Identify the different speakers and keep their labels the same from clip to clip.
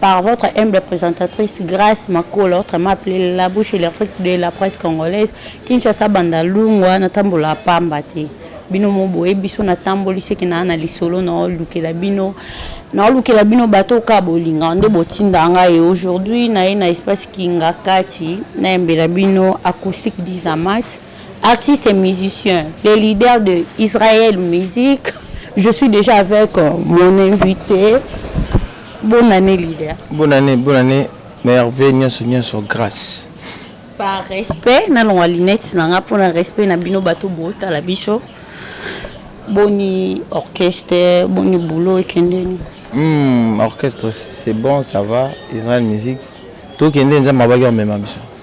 Speaker 1: par votre humble presentatrice Grace Makolo, autrement appelée la bouche électrique de la presse congolaise, Kinshasa banda lungwa na tambola pamba te. bino moboye biso natamboli soki naa na lisolo naolukela bino naolukela bino bato oka bolinga nde botinda ngai aujourd'hui naye na espace kingakati nayembela bino acoustique disamat Artiste et musicien, le leader de Israël Musique. Je suis déjà avec euh, mon invité. Bonne année, leader. Bonne année, bonne année.
Speaker 2: Merveille, nyonso, nyonso, grâce. Par
Speaker 1: respect, na longa lunettes na nga pona respect na bino bato bota la biso. Boni orchestre, boni boulot ekende. Hmm, orchestre
Speaker 2: c'est bon, ça va. Israël Musique. Tokende nzambe abaki omema biso.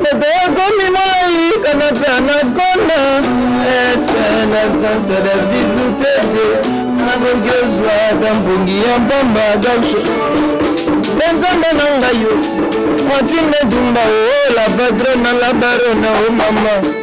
Speaker 3: Moto akomi molai kaka mpe anakonda eske na absence de vide lutete nakoki ozwa ata mpongi ya mpamba gauche mpe nzambe na ngai yo mwafine dumba o oh, la patrona la barona o oh, mama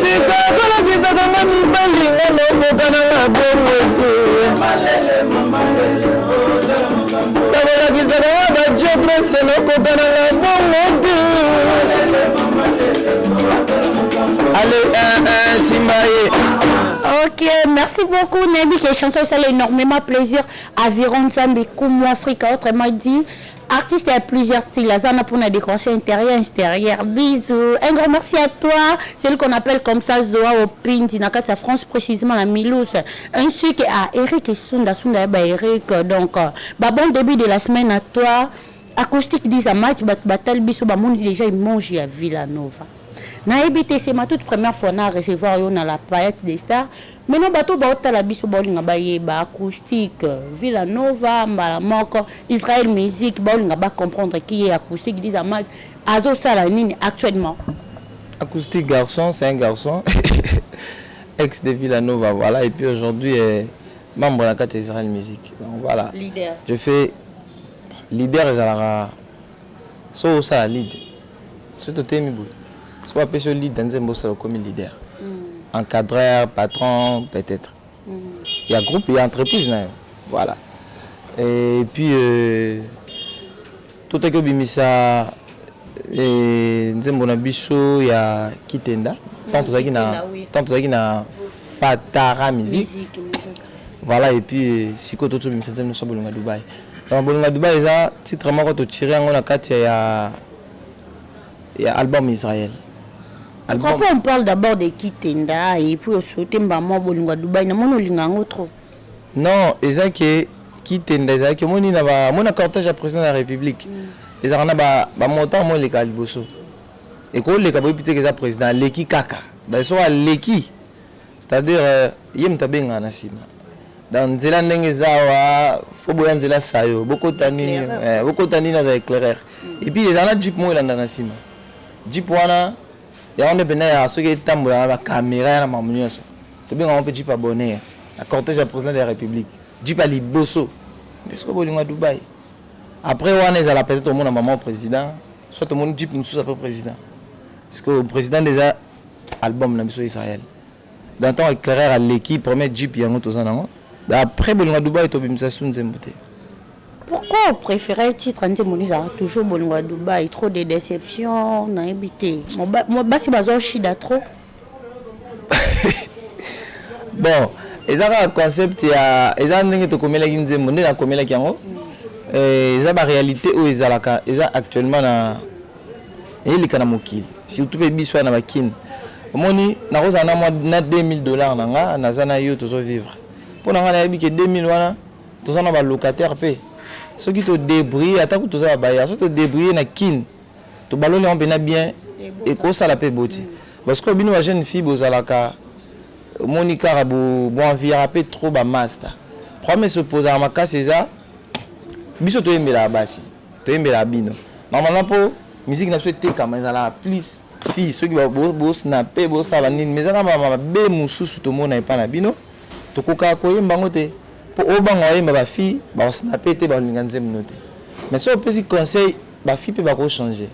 Speaker 3: Tika kolakisaka nga mibali nga nakoka na nga bongo te Sakolakisaka nga ba jotres nakoka na nga bongo te Allez, un, un, simba ye Ok,
Speaker 1: merci beaucoup. Nayebi que chanson ça énormément plaisir. Aviron Zambi, Kumu Africa, autrement dit, Artiste ya plusieurs styles, aza na pona décoration intérieure extérieure. Bisous. Un grand merci à toi, celui qu'on appelle comme ça Zoa Opindi na kati ya France précisément na Milouse. Ainsi que à Eric Sunda Sunda ba Eric. Donc euh, ba bon début de la semaine à toi. Acoustique des amateurs bat batal biso ba monde déjà il mange ya Villanova. nayebi te c'est ma toute première fois na recevoir yo na la payette des stars Maintenant bato oyo baotala biso baolinga bayeba acoustique, Villa Nova, mbala moko Israël Musique baolinga ba comprendre qui est acoustique Liza Mag azosala nini actuellement? Acoustique
Speaker 2: garçon, c'est un garçon ex de Villa Nova voilà et puis aujourd'hui eh, membre na kati ya Israël Musique donc voilà leader. je fais leader ezalaka Soki osala lead, soki totelemi boye, soki bapesi yo lead na nzembo osala okomi leader, encadreur, patron peut-être ya groupe ya entreprise na yo voilà et puis euh, totaki obimisa eh, nzembo na biso ya kitenda tant tozalaki na Kitenda, oui. tant tozalaki na fatara musique Musique, musique. voilà et puis euh, sikoyo totobimisa nzembo nyonso ya bolonga dubai Donc bolinga Dubai eza titre moko to tirer yango na kati ya ya album Israël. Album...
Speaker 1: Pourquoi on parle d'abord de Kitenda et puis osote mbamo bolinga Dubai na mona olinga yango trop. Non,
Speaker 2: eza que Kitenda eza que moni na ba mona cortège ya président de la République. Mm. Eza na ba ba montant mo leka liboso. Et ko leka boyi piteke eza président leki kaka. Ba so leki. C'est à dire ye mutu abengaka na sima donc nzela ndenge eza awa faut boya nzela sayo bokota nini eh, bokota nini aza éclairer mm. et puis eza na jeep moko elanda na sima jeep wana yango nde mpenza ya soki etambola na bakamera ya na mamu nyonso tobengango mpe jeep abonner na cortège ya président de la république jeep ya liboso nde soki bolingo ya dubai après wana ezala peut-être omona maman président soit omoni jeep mosusu après président parce que président nde eza Album na biso Israël dans ton eclairer aleki premier jeep yango toza nango après bolingo Dubai to bimisa su nzembo te Pourquoi
Speaker 1: vous préférez titre nzembo nisa toujours bolingo à Dubaï trop de déception na ebité basi bazo shida trop
Speaker 2: bon eza kaka concept ya eza ndenge tokomelaki nzembo nde nakomelaki yango mm. eh, eza baréalité oyo ezalaka eza actuellement na eleka na mokili surtout pe biso na ba kin omoni nakozala na mwa na 2000 dollars na nga naza na yo tozo vivre mpo na nga nayebi ke 2000 wana toza na ba locataire pe soki to débrouiller ata kutu toza babaya soki to débrouiller na kin tobaloli yango mpena bien ekosala pe boti parce que bino ba jeune fille bozalaka omoni kaka bo bo envira pe trop ba masta problème esopozaka makasi eza biso toyembelaka basi Toyembela bino normalement po musique na biso etekama ezalaka plus fille soki bo snapper bosala nini mais eza na mabe mosusu tomona epai na bino tokokaka koyemba yango te po obanga oyemba ba fille bakosnape te bakolinga nzembo no te mais soki opesi conseil ba fille mpe bakochange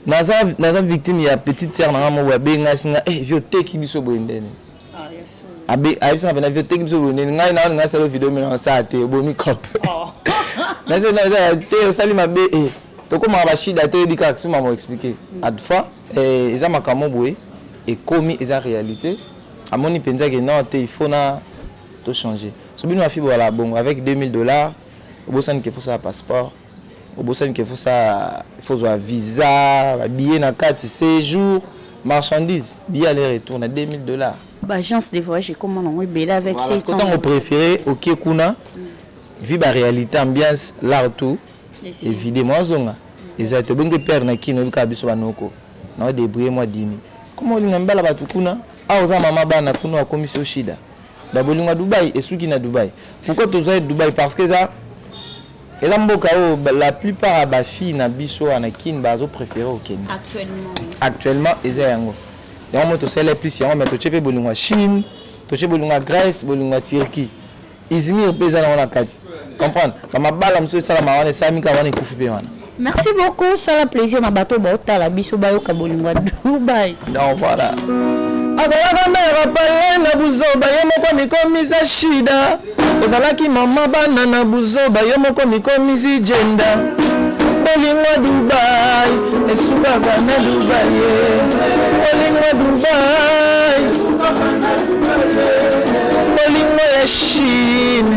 Speaker 2: naza naza victime ya petite sœur na nga moko abenga singa eh vio teki biso boye ndene ayebisaka pena vio teki biso bonene ngai naoni ngai sala video mena osala te obomi cop oh. nasala te osali mabe eh. tokomaka bashida te oyebi kaka sima moexplike mm. adfa eh, eza makambo boye ekomi eza réalité amoni mpenza ke non te il faut na tochange so bino bafi boala bongo avec 2000 dollars obosani ke fosala passeport Obosani que faut sa faut zwa visa, ba billets na kati, sejour, marchandise, billet aller retour na 2000 dollars. Ba agence
Speaker 1: de voyage ekoma nango ebele avec voilà, 600. Tango prefere
Speaker 2: okie kuna mm. vi ba realite ambiance l'art tout evide mwa zonga eza te obenge père na kino obikaka biso banoko na odebrouille mwa dimi koma olinga mibala bato kuna awa oza mama bana kuna wakomisi oshida babolinga dubai esuki na dubai pourquoi tozwa ye dubai parce que eza Eza mboka oyo la plupart ya ba filles na biso awa na kin bazo prefere kokende actuellement eza yango yango mo tosala plus yango mais totie mpe bolingo ya chine totie bolingo ya grèce bolingo ya turquie izmir mpe eza nango na kati comprendre bamabala mosusu esalama wana esalami kaka wana ekufi mpe wana Merci beaucoup,
Speaker 1: sala plaisir na bato baotala biso bayoka bolingo ya Dubai. Donc voilà.
Speaker 2: azalaka
Speaker 3: mère pale na buzoba ye moko mikomisa shida ozalaki mama bana na buzoba ye moko mikomisi jenda bolingo dubai esukaka na dubai bolingo dubai bolingo ya chine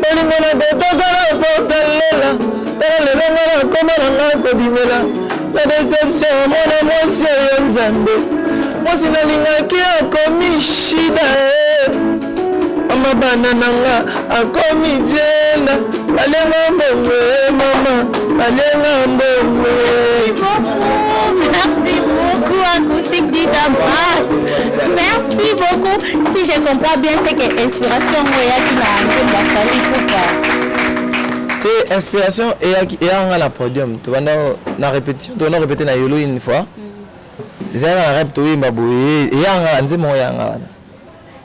Speaker 3: bolingo na kotoka na portalela tala lelo nga na koma na nga kobimela na deception mwana mwasi oyo nzambe mwasi nalingaki akomi shida eh. mama bana na nga akomi jenda balenga mbongo eh, mama balenga mbongo eh. Merci beaucoup,
Speaker 1: acoustique dit à Merci. Merci beaucoup. Si je comprends bien, c'est que inspiration oyaki na nzembo ya
Speaker 2: Fally Ipupa. Te inspiration eyaki eyaka nga na podium. Tobanda na répétition, tobanda répéter na yolo une fois. Mm. Ezalaka na rap toyemba boye, eyaka nga nzembo yango eyaka nga wana.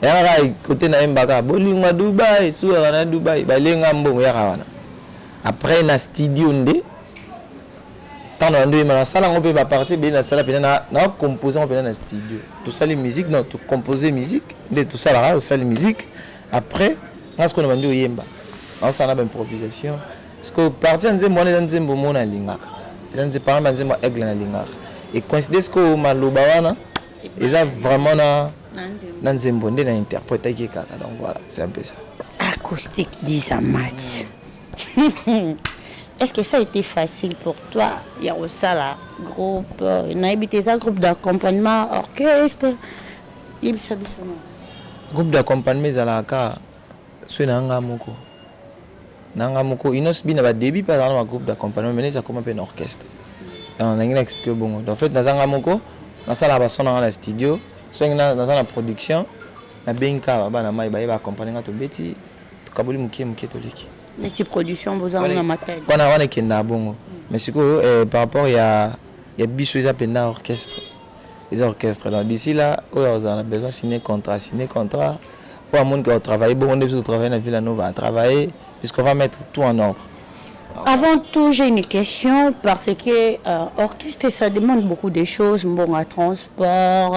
Speaker 2: Eyaka kaka kote nayembaka bolingo ya Dubai, esuaka na Dubai, balenga mbongo eyaka wana. Après na studio nde Temps na ndoyi ma na sala ngo pe ba partie ebele na sala pena na compose ngo pena na studio. To sali musique non to compose musique nde to sala ka sali musique après nga siko na bandi oyemba. Na sala na ba improvisation. Siko partie ya nzembo wana eza nzembo mo na lingaka. Eza nzembo par exemple nzembo aigle na lingaka. Et coïncide siko maloba wana eza vraiment na na nzembo nde na interpréter kaka donc voilà c'est un peu ça. Acoustique
Speaker 1: disa match. Est ce que ça a été facile pour toi ya kosala groupe euh, nayebi te eza groupe d'accompagnement orchestre yebisa biso na
Speaker 2: groupe d'accompagnement ezalaka kaka soki na nga moko na nga moko inos bi na badébut mpe azalaka na bagroupe d'accompagnement mais neti akoma mpe na orchestre donc nangi na explike bongo donc en fait naza nga moko nasalaka bason na nga na studio soki naza na production nabengi kaka babana mai baye baaccompagne nga tobeti Tokaboli moke moke toleki. Neti production
Speaker 1: boza na matali. Wana wana ekenda bongo.
Speaker 2: Mais sikoyo eh, par rapport ya ya biso eza penda orchestre. Eza orchestre. Donc d'ici là, oyo azala na besoin signer contrat, signer contrat. Oyo amoni que travailler bongo nde biso travailler na Villa Nova, travailler puisqu'on va mettre tout en ordre. Avant
Speaker 1: tout, j'ai une question parce que euh, orchestre, ça demande beaucoup de choses. Bon, à transport,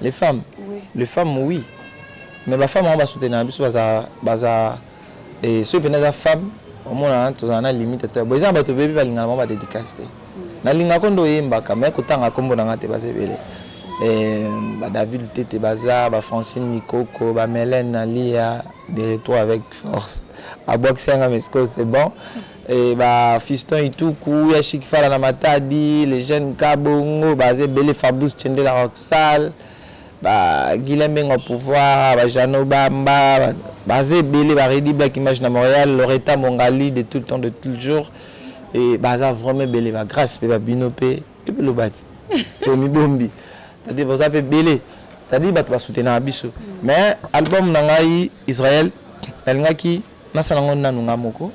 Speaker 1: Les femmes
Speaker 2: oui. Les femmes oui. Mais ba femmes on va soutenir biso baza baza et ceux pena za femme omona tozala na limite to bo eza bato bebi balingana bango badédicace te mm. nalingako nde oyembaka me kotanga nkombo na ngai te baza ebele eh, badavid tete baza bafrancine mikoko bamelene nalia de retour avec force abwakisi yanga mesco c'est bon Eh ba fiston ituku ya chic fala na matadi les jeunes kabongo baza ebele fabrice chendela rocksal ba guilain mbengo ya pouvoir ba jano bamba baza ebele ba redi black image na montreal loreta mongali de tout le temps de tout le jour et baza vraiment ebele ba grace pe ba bino pe epe lobati pe mibombi c'est-à-dire boza pe ebele c'est-à-dire bato ba soutenaka biso mais album na ngai israel nalingaki Nasala ngo nanu nga moko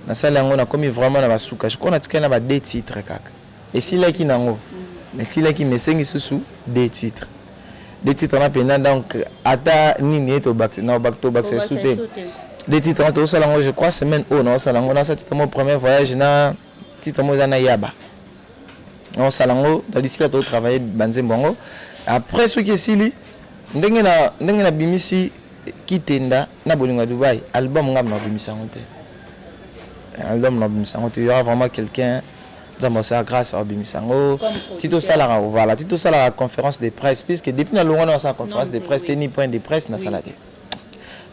Speaker 2: nasali yango nakomi vraiment na basuka je crois natikali na ba deux titres kaka esilaki nango esilaki mais esengi susu deux titres deux titres na pena donc ata nini ye tobakisa na obak tobakisa su te deux titres na tosala ngo je crois semaine oyo na osala ngo na sa titre mo premier voyage na titre mo eza na yaba na osala ngo na disila to travailler banzembo yango après soki esili ndenge na ndenge na bimisi kitenda na bolingo ya Dubaï album nga na bimisa yango te album na bimisa yango te il y aura vraiment quelqu'un nzambe asala grâce abimisa yango ti tosalaka voilà ti tosalaka conférence de presse puisque depuis nalongwa na nasala conférence de presse te ni point de presse nasala te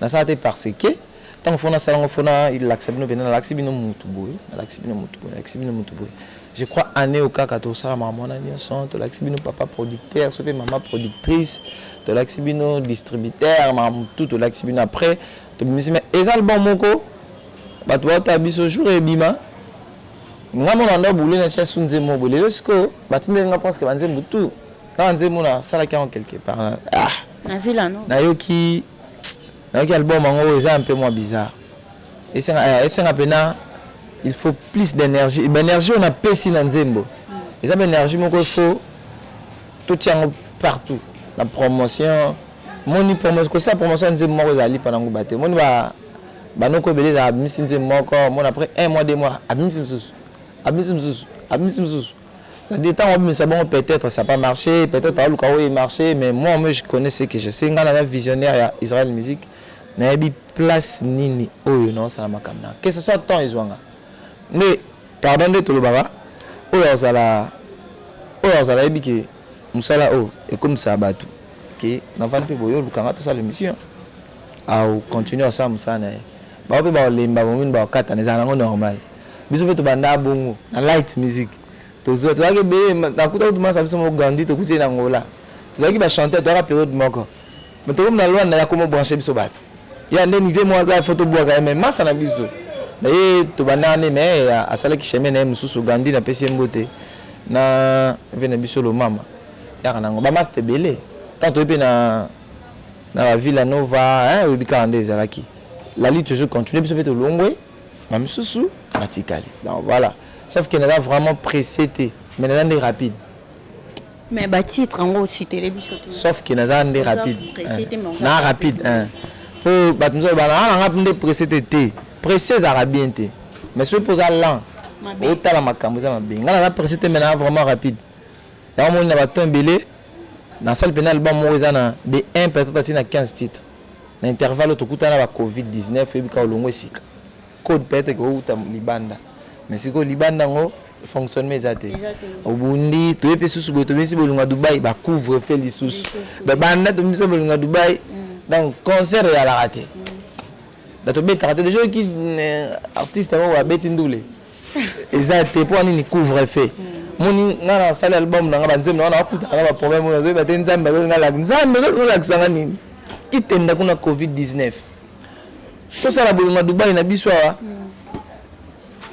Speaker 2: nasala te parce que ntango fona asala yango fona elakisa bino mpenza nalakisi bino mutu boye nalakisi bino mutu boye nalakisi bino mutu boye Je crois annee oyo kaka tosala makambo wana nionso, tolakisi bino papa producteur soki pe mama productrice, tolakisi bino distributeur makambo tout tolakisi bino après tobimisi mais eza album moko batu baotala biso jour ebima nga mona ndo boule na tia su nzembo moko lelo sikoyo batindeli nga presque banzembo tout na banzembo nasalaki yango quelque part ah na villa
Speaker 1: no nayoki
Speaker 2: Nayoki album yango eza un peu mwa bizarre. Esenga eh, esenga pena il faut plus d'énergie. Ba énergie on a pesi na nzembo. Eza ba énergie moko il faut tout yango partout. La promotion moni promotion ko sa promotion nzembo moko ezali pa nango bate. Moni ba banoko ebele za abimisi nzembo moko, mona après un mois deux mois abimisi misusu. Abimisi misusu. Abimisi misusu. Ça dit tango abimisa bongo peut etre ça pas marche peut etre aluka oyo e marche mais moi moi je connais ce que je sais nga naza visionnaire ya Israël musique nayebi place nini oyo na osala makambo na que ce soit temps ezwanga nde pardon nde tolobaka oyo azala oyo azala yebi ke musala oyo ekomisa bato ke navandi mpe boyo olukanga tosala émission au continuer asala mosala na ye bango mpe baolemba bomini baokatana ezala nango normal Biso pe tobanda bongo na light music tozua tozalaki ebele nakuta kutu masa biso moko Gandhi tokuti ye na Angola tozalaki ba chanteur toyaka periode moko mais tokomi na Luanda ya komo branche biso bato ya nde nive moko aza faut tobuaka ye mais masa na biso na ye tobanda nde mais asalaki chemin na ye mosusu Gandhi na pesi ye mbote na ve na biso lomama yaka nango ba masta ebele tant toye pe na na ba Villa Nova hein oyebi kaka nde ezalaki la lutte toujours continue biso pe tolongwe na misusu matikali donc voilà sauf que naza vraiment pressé te mais naza nde rapide mais
Speaker 1: ba titre yango ositele biso te sauf que naza nde
Speaker 2: rapide na rapide po bato mosusu bana aa nanga nde pressé te te pressé ezalaka bien te mais soki mpo oza lent otala makambo eza mabe ngai naza pressé te mais naza vraiment rapide yango moni na baton ebele nasali mpenza album moko eza na de 1 peut-être atina 15 titre Na intervalle oyo tokutana na ba covid 19 oyebi kaka olongwe sika. Code peut etre ekoki kouta libanda mais sikoyo libanda yango fonctionnement eza te. Obundi toye mpe susu boye tobimisi bolunga Dubai ba couvre feu lisusu. Ba banda tobimisa bolunga Dubai donc concert eyalaka te. Donc tobetaka te. Deja oyoki artiste moko abeti ndule. eza te mpo nini couvre feu moni ngai nasali album na ngai banzembo na ngai nakutana na baproblème oyo nazoyeba te nzambe azolinga laki nzambe azolinga olakisa ngai nini itenda kuna covid 19 tosala bolingo ya dubai na biso awa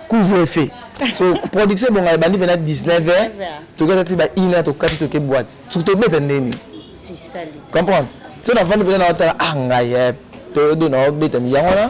Speaker 2: couvre feu so production ebonga ebandi mpena 19 heures tokata ti ba une heure tokati toke boite soki tobeta ndeni
Speaker 1: comprendre so
Speaker 2: nafandi mpena naotala ah ngai eh, periode oyo naobeta yango wana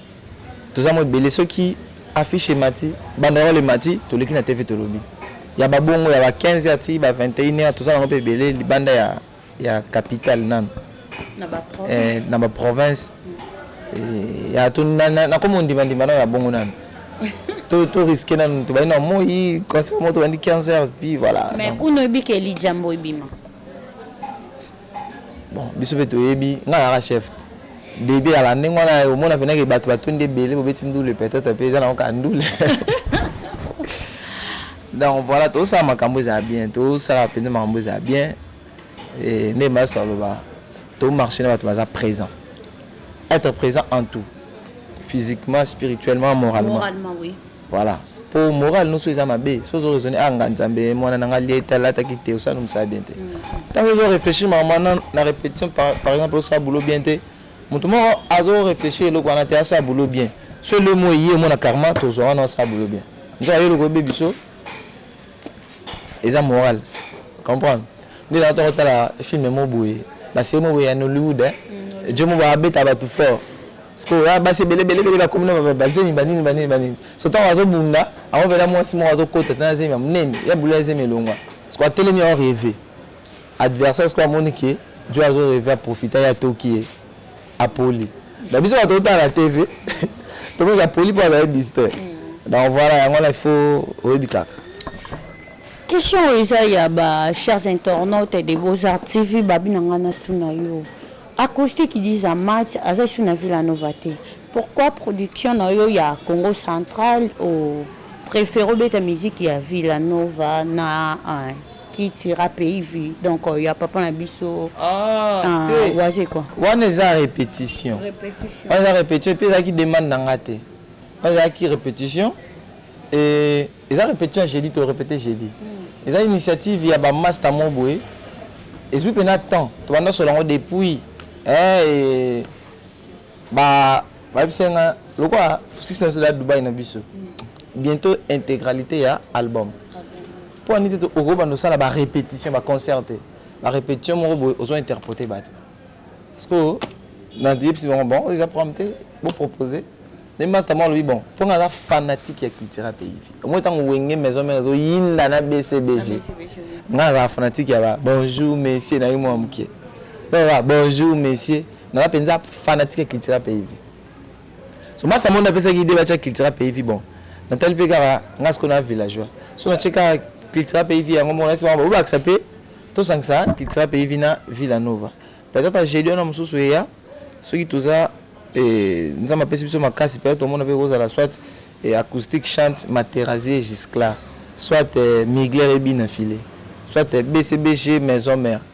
Speaker 2: toza mwa ebele soki affiche emati banderole emati toleki na tv tolobi ya babongo ya ba 15 heures ti ba 21 heures toza nango mpe ebele libanda ya, ya capitale nanu eh, na baprovince eh, ya nakoma ondimandima nao ya bongo nanu to to risque nanu tobandi na moi concert moko tobandi 15 heures puis voilà mais kuno ebike
Speaker 1: elijambo ebima
Speaker 2: Bon, biso pe toyebi, nga naka chef debut ya la ndenge wana eh, omona pena ke bato batondi ebele bobeti ndule peut-être pe eza na oka ndule donc voilà tosala makambo ezala bien tosala mpenza makambo ezala bien eh, nde maso aloba tomarche na bato baza présent être présent en tout physiquement spirituellement moralement, moralement oui. Voilà po morale noso eza mabe soki ozo raisonner ah nga nzambe eh, mwana na nga alie te alata ki te osala mosala bien te ntango ezo réfléchir makambo na, na répétition par, par exemple osala boulot bien te moto moko azo réfléchir eloko wana te asala boulot bien so elemo eye omona karma tozwa wana osala boulot bien nzaka yo eloko oyebi biso Eza moral comprendre nde na toko tala film mo boye ba série mo boye ya Nollywood hein Djo mo ba beta batu fort siko ya basi ebele bele bele ba komi na ba zemi ba nini ba nini ba nini so tango azo bunda ango pela mwasi moko azo kota tana zemi ya munene ya bula ya zemi elongwa siko atelemi azo reve adversaire siko amoni ke Djo azo reve a profita ya toki ye Apoli. Na biso bato otala na TV, tomoni apoli mpo azali distin. Donc voilà, yango wana il faut oyebi kaka.
Speaker 1: Question oyo eza ya ba chers internautes de Beaux-Arts TV, babi na ngai natuna yo. Acoustique dix à match aza lisusu na Villa Nova te. Pourquoi production na yo ya Congo Central o préfère obeta musique ya Villa Nova na hein? qui tuera pays vu donc euh, ya papa na biso ah, ah, te. waze quoi wana eza
Speaker 2: répétition Répétition. wana eza répétition mpe ezalaki demande na nga te wana ezalaki répétition et eza répétition ya jeudi to répété jeudi hmm. eza initiative ya bamasta mo boye ezwi mpe na temps tobanda solo yango depuis eh, ba Bayebisa nga lokola sisi na biso ezali Dubai na biso bientôt intégralité ya album mpo ani te okobanda osala ba répétition ba concert te ba répétition moko boye ozo interprete bato sikoyo nayebisi bango bon eza programme te bopropose nde masta moko alobi bon mpo nga aza fanatique ya cultura pays omoi ntango wenge maison mare ezoyinda na bcbg nga azala fanatique ya ba bonjour messier na ye mwa moke bonjour messier naza mpenza fanatique ya cultura peivi so masa mondo apesaki ide batya cultura peivi bon natali mpe kaka nga sikoyo na villageois so natye kaka cultura peivi yango moko nasi bango babakisa mpe tosangisa cultura peivi na villa nova peut-être jeudi wana mosusu eya soki toza eh, nzambe apesi biso makasi peut-être tomona mpe kozala soit eh, acoustique chante materasie gisclar soit eh, migler ebina file soit bcbg maison mère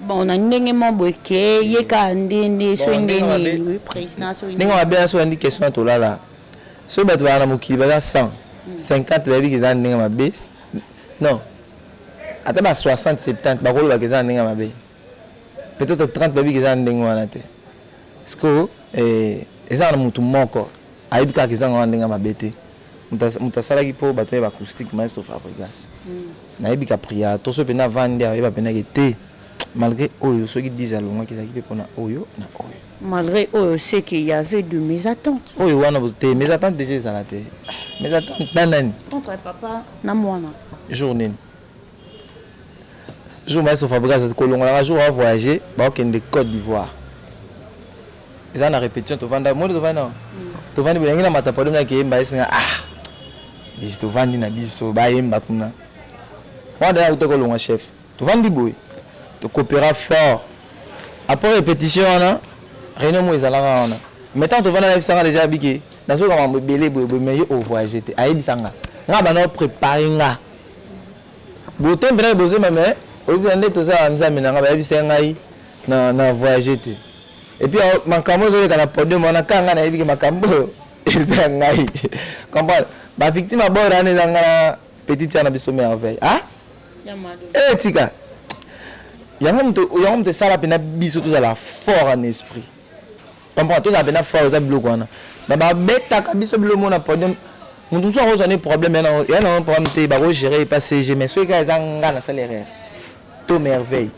Speaker 2: Bon na ndenge
Speaker 1: moko boye ke ye kaka nde nde soki nde nini president soki ndenge mabe na soki andi question
Speaker 2: tolala soki bato baa na mokili baza 100 50 bayebi eza ndenge mabe non ata ba 60 70 bakoloba ke eza ndenge mabe peut-être 30 bayebi eza ndenge wana te siko eh, eza na moto moko Ayebi kaka ezanga wana ndenge ya mabe te mutu asalaki po batu naye ba acoustique maestro fabrigas nayebi ka priya toso pende avandi awa ayeba pende ke te malgre oyo soki dise alongwaki ezalaki pe pona oyo na oyo malgre oyo ce
Speaker 1: que ya avait de mes attentes oyo wana te mes
Speaker 2: attentes deja ezala te mes attentes na nani contre papa
Speaker 1: na mwana jour nini
Speaker 2: Jour maestro Fabregas aza kolongola nga jour a voyager ba kende Cote d'Ivoire. Eza na repetition to vanda moni to vanda na to vandi boyangi na mata pardon na kemba esinga ah bisi to vandi na biso ba yemba kuna. Wanda ya utako longa chef. To vandi boye to coopera fort. Après repetition wana réunion mo ezalaka wana. Mais tant to vanda na biso nga déjà bike nazoka mambo ebele boye boye mais yo o voyager te ayebisa nga. Nga bana préparer nga Botembe nayo bozemba mais oyebi na nde toza nzambe na nga bayebisa ngai na na voyage te et puis makambo ezoleka na podium wana kaka ngai nayebi ke makambo oyo eza ngai comprendre ba victime ya bord wana eza ngai na petite ya na biso merveille ah eh tika yango moto yango moto esala mpenza biso tozala fort en esprit Comprends tozala pena fort eza biloko wana mais ba betaka biso bilo mona podium mutu mususu akozwa ne problème ya na ya na problème te bako gérer epa CG mais soki ka eza nga na sala erreur to merveille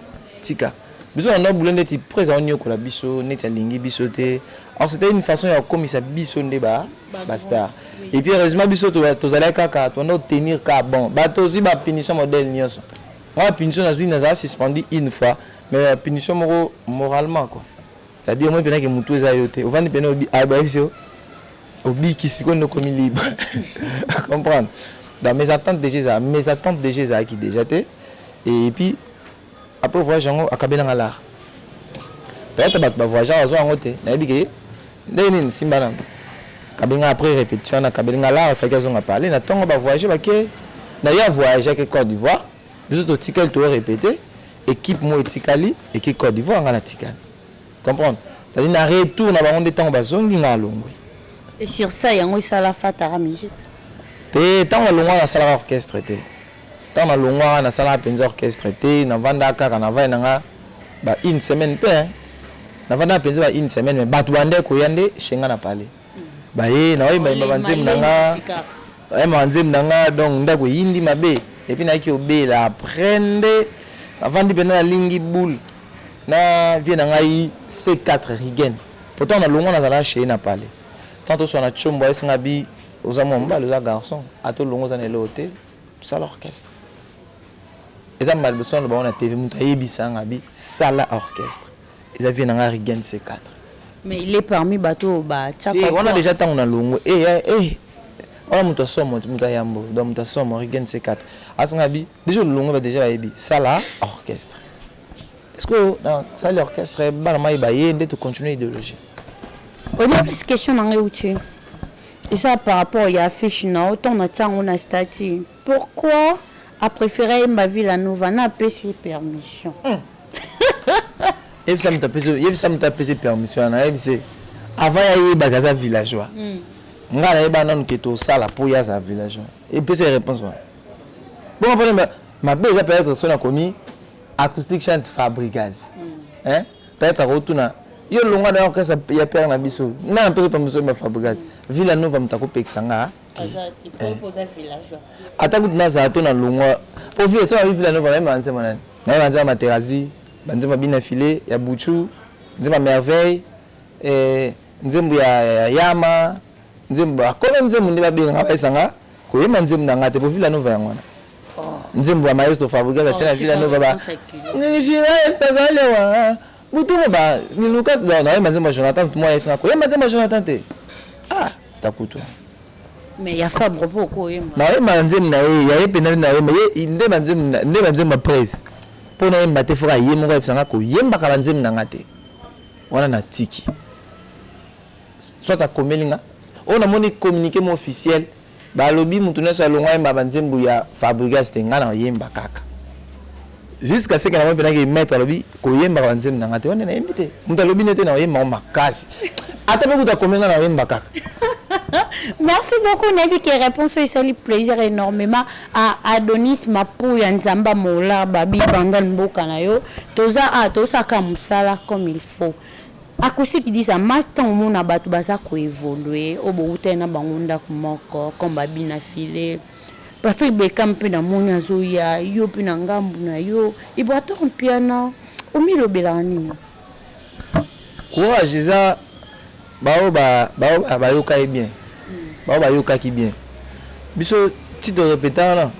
Speaker 2: tika biso na ndako boulot ndeti preza onyokola biso neti alingi biso te or c'était une façon ya kokomisa biso nde ba ba star et puis heureusement biso tozalaki kaka tondako tenir ka bon bato ozwi ba punition modèle nyonso Nga ba punition nazui naza suspendu une fois mais ba punition moko moralement quoi c'est à dire omoni pena ke mutu eza yo te ovandi pena ayebisi yo obiki sikoyo nde okomi libre comprendre donc mes attentes déjà eza mes attentes déjà ezalaki déjà te et puis après voyage yango akabela nga lar peut-être bato ba voyageur bazwa yango te nayebi ke Ndenge nini simba na kabinga après repetition na kabeli nga lara faki azonga parler na tongo ba voyager ba ke na ya voyager ke Côte d'Ivoire biso to tikali to répéter équipe mo etikali et ke Côte d'Ivoire nga na tikali comprendre ça dit na retour na bango nde tango bazongi nga alongwe et sur ça
Speaker 1: yango esala fatara musique te
Speaker 2: tango alongwa na sala orchestre te Tango na longwaka na salaka penza orchestre te, na vandaka kaka na vaya na nga ba une semaine pe hein. Na vandaka penza ba une semaine mais batu ba bandaki koya nde chez nga na palais. Ba ye na oyemba yemba ba nzembo na nga, ba yemba ba nzembo na nga donc ndaku eyindi mabe et puis nayaki ko bela après nde na vandi penza na lingi boule na vieux na ngai C4 Rigen po tango na longwa na zalaka chez ye na palais. Tango to suana tshombo ayebisi nga bi oza mua mobali oza garçon ata olongwe oza na eloko te. Sala orchestre eza mbala liboso naloba yango na TV mutu ayebisa nga bi sala orchestre eza vie na nga Rigen C4 mais il est
Speaker 1: parmi bato oyo batiaka te wana deja ntango na
Speaker 2: longo e eh, eh, eh. wana moto asomo moto ayambo donc moto asomo rigen c4 asanga bi deja olongo ba deja bayebi sala orchestre est ce que na sali orchestre bana mai baye nde tocontinue idéologie oyebi
Speaker 1: plus question na ngai euti Eza par rapport ya affiche na yo tango natia yango na statut pourquoi a prefere ayemba villa nova na apesi ye permission
Speaker 2: yebisa moto apesi yebisa moto apesi permission wana yebise avant ya yebaka aza villageois hmm. ngai nayeba nanu ke tosala mpo ye azala villageois epesa ye réponse wana bongo mpona mabe eza peut-être so nakomi acoustique chante fabrigaz hmm. Peut-etre akotuna yo longwa na orchestre ya père na biso nana mpe pamba soyeba Fabregas Villa Nova moto akopekisa nga eh.
Speaker 1: ata kutu nazala
Speaker 2: to na longwa mpo vile to nabi Villa Nova nayeba nzembo nani nayeba nzembo Materazzi banzembo ya bina filet ya Buchu nzembo ya merveille eh, nzembo ya yama nzembo akolo nzembo nde babengaka bayesanga koyemba nzembo na ngai te mpo Villa Nova yango wana nzembo ya maestro fabrigas atia na vila nova ba nigilais nazali awa butu moba nilukas nayemba nzembo ya jonathan mwa esina koyemba nzembo ya jonathan te ah takutu mais
Speaker 1: ya fabre po okoyemba nayemba nzembo na ye
Speaker 2: ya ye mpenza nayemba ye nde banzembo nde banzembo ya prese mpo nayemba te foka ye moko ayebisa nga koyembaka banzembo na nga te wana natiki soit akomeli nga oyo namoni communiqué mo officiel Ba lobi mutu nionso alongwa ayemba ba nzembu ya Fabregas te nga na yemba kaka jusqu'à ce que na moni pena ke maître alobi ko yemba ba nzembu na nga te wana na yembi te mutu alobi nete na yemba ngo makasi ata pe kuta komi nga na yemba kaka
Speaker 1: Merci beaucoup nayebi ke réponse oyo esali plaisir énormément à Adonis Mapuya Nzamba Mola Babi Bangal mboka na yo toza a tozosala kaka mosala comme il faut Acoustique dit ça Mass tango omona batu baza ko evoluer oyo bowutaki na bango ndaku moko comme ba Bina File, Patrick Beckham pe namoni azoya yo pe na ngambu na yo Ibrator Mpiana omilobelaka nini?
Speaker 2: Courage eza ba oyo ba ba oyo bayoka ye bien ba oyo bayokaki bien biso ti to repeta wana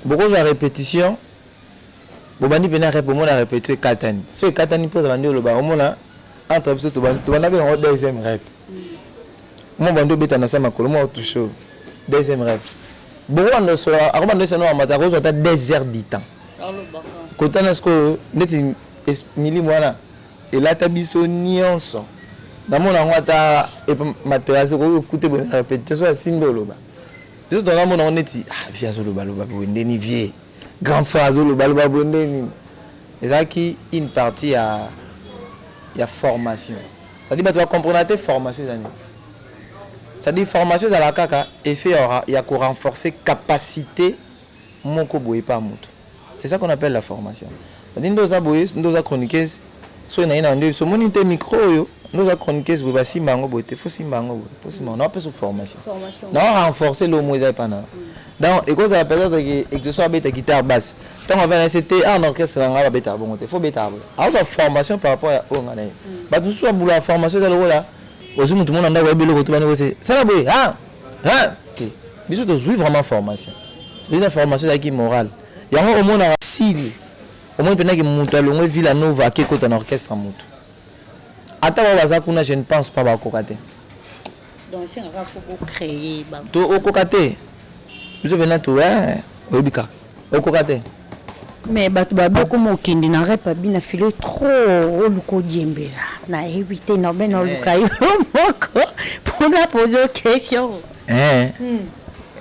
Speaker 2: bokozwa repetition Bobandi pena rep omona repetio ekatani soki ekatani mpe ozala nde oloba omona entre biso tobandaki yango deuxième rep mo bandi obeta na se makolo mo otouche oyo deuxième rep bongo banda osola akobanda esana mamata akozwa ata deux heures du temps kotana sikoyo ndeti milimo wana elata biso nyonso namona yango ata materase okoki okute boye na repetition so asimbi oloba biso tonga mona yango neti ah vie azolobaloba boye ndeni vie Grand frère azo loba loba boye nde nini? Ezalaki une partie ya ya formation. C'est à dire batu ba comprena te formation eza nini. C'est à dire formation ezala kaka effet ya ya ko renforcer capacite moko boye epa mutu. C'est ça qu'on appelle la formation. C'est à dire nde oza boye nde oza chroniqueuse Soki na ina ndio biso moni te micro oyo ndio za chroniqueuse boye basimba yango boye te faut simba yango boye faut simba na pesa formation na wa renforcer lomo eza epa na donc ekozala peut-être que exauce abeta guitare basse ntango avanda na se te awa na orchestre na ngai babetaka bongo te faut betaka boye akozwa formation par rapport ya oyo ngai na ye bato mosusu babulaka formation eza lokola ozwi motu mona ndako yebi eloko tobani kose sala boye ha ha te biso tozwi vraiment formation tozwi na formation ezalaki morale yango omonaka sili Omoni pena ke mutu alongwe Villa Nova ake kota na orchestre ya mutu. Ata ba baza kuna je ne pense pas ba koka te. Donc
Speaker 1: esenga kaka faut ko créer ba. To okoka te.
Speaker 2: Biso pena to eh oyebi kaka. Okoka te. Mais
Speaker 1: bato baboko mokende na repa bina filo trop oluka odiembela na yebi te na bena oluka yo moko mpona pozo question eh. hmm.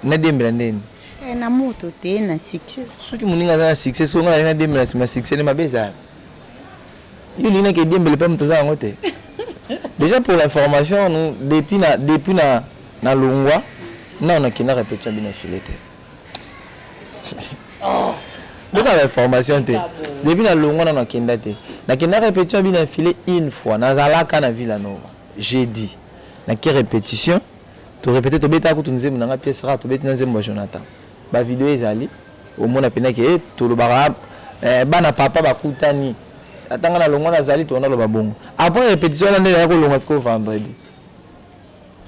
Speaker 2: nadiembela ndeni Eh, na moto
Speaker 1: te na succès soki moninga aza na
Speaker 2: succès soki ngai nalina dembe na nsima succès nde mabe ezala yo olingi nake diembele mpe moto aza yango te déjà pour l'information nous depuis na depuis na na longwa nao nakenda répétition bino file te oh. boza na information te depuis na longwa nao nakenda te nakenda répétition bino file une fois nazalaka na villa nova jeudi nake répétition To repeter to beta kutu nzembo na nga pièce rare to beti na nzembo ya Jonathan. Ba video ezali omona pena ke eh, to lobaka eh, bana papa bakutani ata nga na longwa na zali to na loba bongo. Après répétition na ndenge ya ko longa siko vendredi.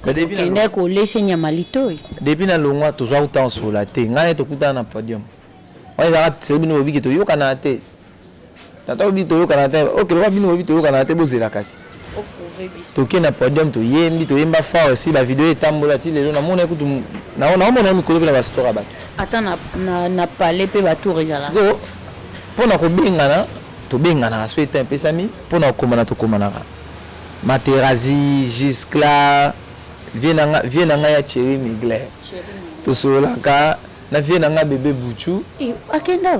Speaker 2: Kende
Speaker 1: kolese nyama litoi. Depuis na longwa
Speaker 2: tozwa kuta nsola te. Ngai tokutana na podium. Wana ezalaka sebi nobiki toyokana te. Tata olobi toyokana te ok lokola bino bolobi toyokanaka te bozela kasi toke na podium toyembi toyemba fort esi ba video etambola ti lelo namona kutu naomona ye mikolo mpe na bastora bato ata na, na,
Speaker 1: na palais mpe batour ezala sikoyo
Speaker 2: mpo na kobengana tobenganaka soki etan epesami mpo na kokomana tokomanaka materazi giscla vie na ngai ya cheri migler tosololaka na vie na ngai bebe buchu eh, akenda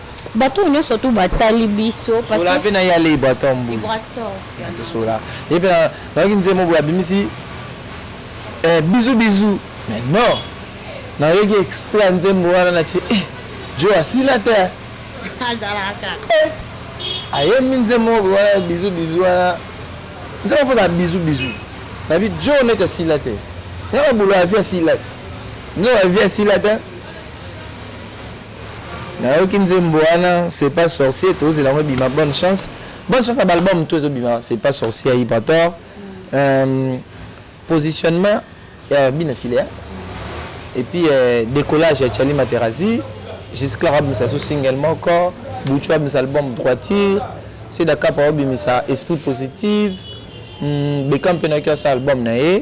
Speaker 2: Bato nionso
Speaker 1: tout ba tali biso. Sola pe na ye alei
Speaker 2: Ibrator mbuzi. Natu sola ye pe na yoki nzembo boye abimisi eh bisous bisous mais non na yoki extrait ya nzembo wana na tie eh djo asila te hein. Azalaka
Speaker 1: kaka. Eh
Speaker 2: ayembi nzembo moko boye wana bisous bisous wana nzembo faut ezala bisous bisous na bi djo neti asila te nga na bolo ya vie asila te nga ya vie asila te hein. Nayoki nzembo wana c'est pas sorcier tozela yango ebima bonne chance bonne chance na ba album tout ezo bima c'est pas sorcier ya Ibrator euh, positionnement ya Bina Filia et puis euh, décollage ya Charlie Materazzi jusqu'à abimisa sous single moko Buchu abimisa album droiture Seda Kapa abimisa esprit positive hmm, Beckham mpe nayoki asa album na ye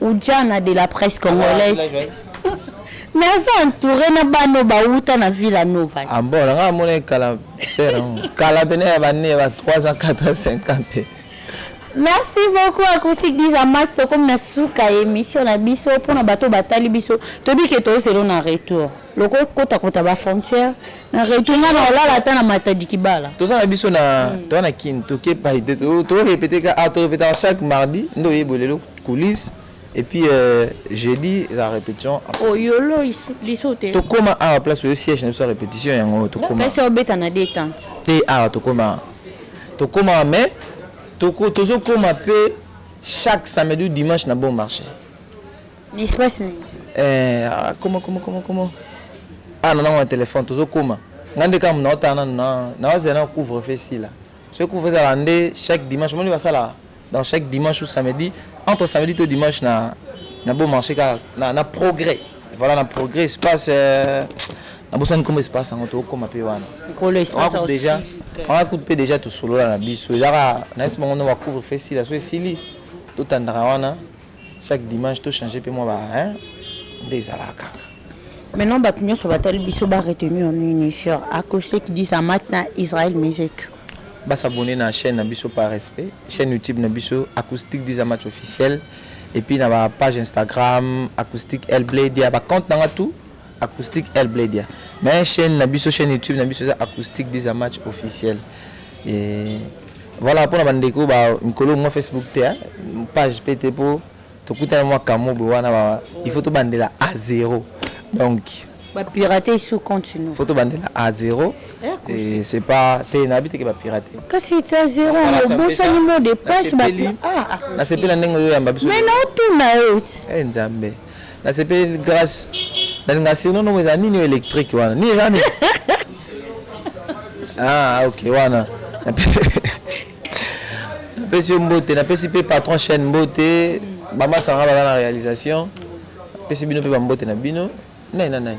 Speaker 1: Ujana de la presse congolaise mais aza entouré na bana oyo bawuta na villa nova ah bon nanga amona
Speaker 2: ye kala sere yango kala pene ya bane ya ba 3 ans 4 ans 5 ans mpe merci
Speaker 1: beaucoup acoustique disa mas tokomi na suka ya émission na biso mpona bato oyo batali biso toyebi ke tozelo na retour loko kotakota bafrontière na retour nga na olala ata na matadi kibala toza na biso na hmm.
Speaker 2: toza na kin toke pai te torepete ka ah, torepetaka chaque mardi nde oyebole eloko Coulisse et puis euh, jeudi la répétition oh yolo
Speaker 1: lisote tokoma awa place
Speaker 2: oyo siège na biso ya répétition yango tokoma kasi obeta na détente
Speaker 1: te awa tokoma
Speaker 2: tokoma mais toko tozokoma mpe chaque samedi ou dimanche na bon marché
Speaker 1: espace nini eh,
Speaker 2: ah, koma koma koma koma ah na nango na telefone tozokoma ngai nde kaka naotala nanu naozela na couvre fe sila soki couvre ezala nde chaque dimanche omoni basalaka Donc chaque dimanche ou samedi, entre samedi to dimanche na na bon marché car na, na progrès. Voilà na progrès espace euh, na bosani comme espace en to comme pe wana. Kolo espace on déjà on a coupé déjà tout solo là na biso. Ezaka na espace on va couvrir fait si la so esili to tandaka wana. Chaque dimanche to changer pe mwa ba hein nde ezalaka kaka. Maintenant bato
Speaker 1: nyonso batali biso ba retenir nini sur Acoste qui dit Zamath na Israël Musique? Ba s'abonner
Speaker 2: na chaine na biso par respect, chaine YouTube na biso Acoustique dit Zamath officiel et puis na ba page Instagram Acoustique El Bled ya ba compte na nga tout. Acoustique El Bledia. Mais chaîne na biso chaîne YouTube na biso eza Acoustique Diza Match officiel. Et voilà pona ba ndeko ba mikolo ngo Facebook te hein. page pe te po tokutana mwa kamobo wana ba il faut tobandela à zéro. Donc ba
Speaker 1: pirater sous compte nous. Faut tobandela à
Speaker 2: zéro. Et c'est pas te na habite que ba pirater. Kasi c'est à zéro
Speaker 1: on bossa ni mot de passe ba ah. Na
Speaker 2: sepela ndenge yo yamba biso. Mais na otuna yo.
Speaker 1: Eh Nzambe.
Speaker 2: Na sepeli grace na linga sirno nomo eza nini electrique wana nini eza nini ah ok wana napesi yo mbote napesi mpe patron chaîne mbote bama sanga baza na réalisation napesi bino mpe bambote na bino nani na nani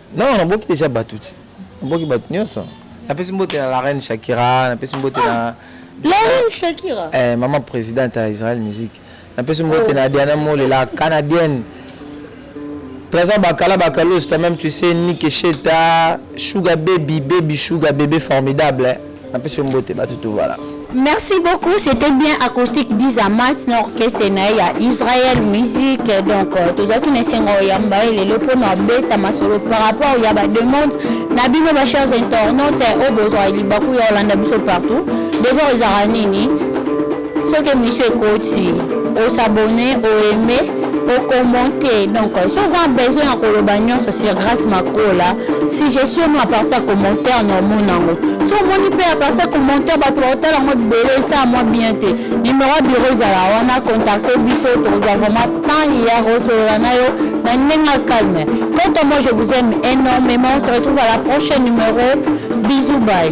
Speaker 1: Non, naboki
Speaker 2: deja bato ti. Naboki bato nyonso. Napesi mbote na la reine Shakira, napesi mbote na ah, La reine
Speaker 1: Shakira. Eh, maman présidente
Speaker 2: ya Israël Musique. Napesi mbote oh. na Diana Mole, la canadienne. Trésor Bakala Bakalos, toi-même tu sais Nick Sheta, Sugar Baby, Baby Sugar, bébé formidable. Hein. Napesi yo mbote batu tuvala. Merci beaucoup,
Speaker 1: c'était bien acoustique d'Izamat na orchestre na ya Israël Musique. Donc euh, tozalaki na esengo ya mbaye lelo mpo na beta masolo par rapport ya ba demande na bino ba chers internautes oyo bozwa libaku ya kolanda biso partout. Devoir ezalaka nini? soki emission ekoti o s'abonner o aimer o commenter donc so oza besoin ya koloba nyonso sur grace makola suggestion no aparti ya commentaire na omona yango so omoni mpe aparti ya commentaire bato baotala yango ebele esa mwa bien te numero ya bureau ezala wana contacte biso tokozwa vraiment temps ya kosolola na yo na ndenge ya calme quant à moi je vous aime énormément on se retrouve à la prochaine numéro bisous bye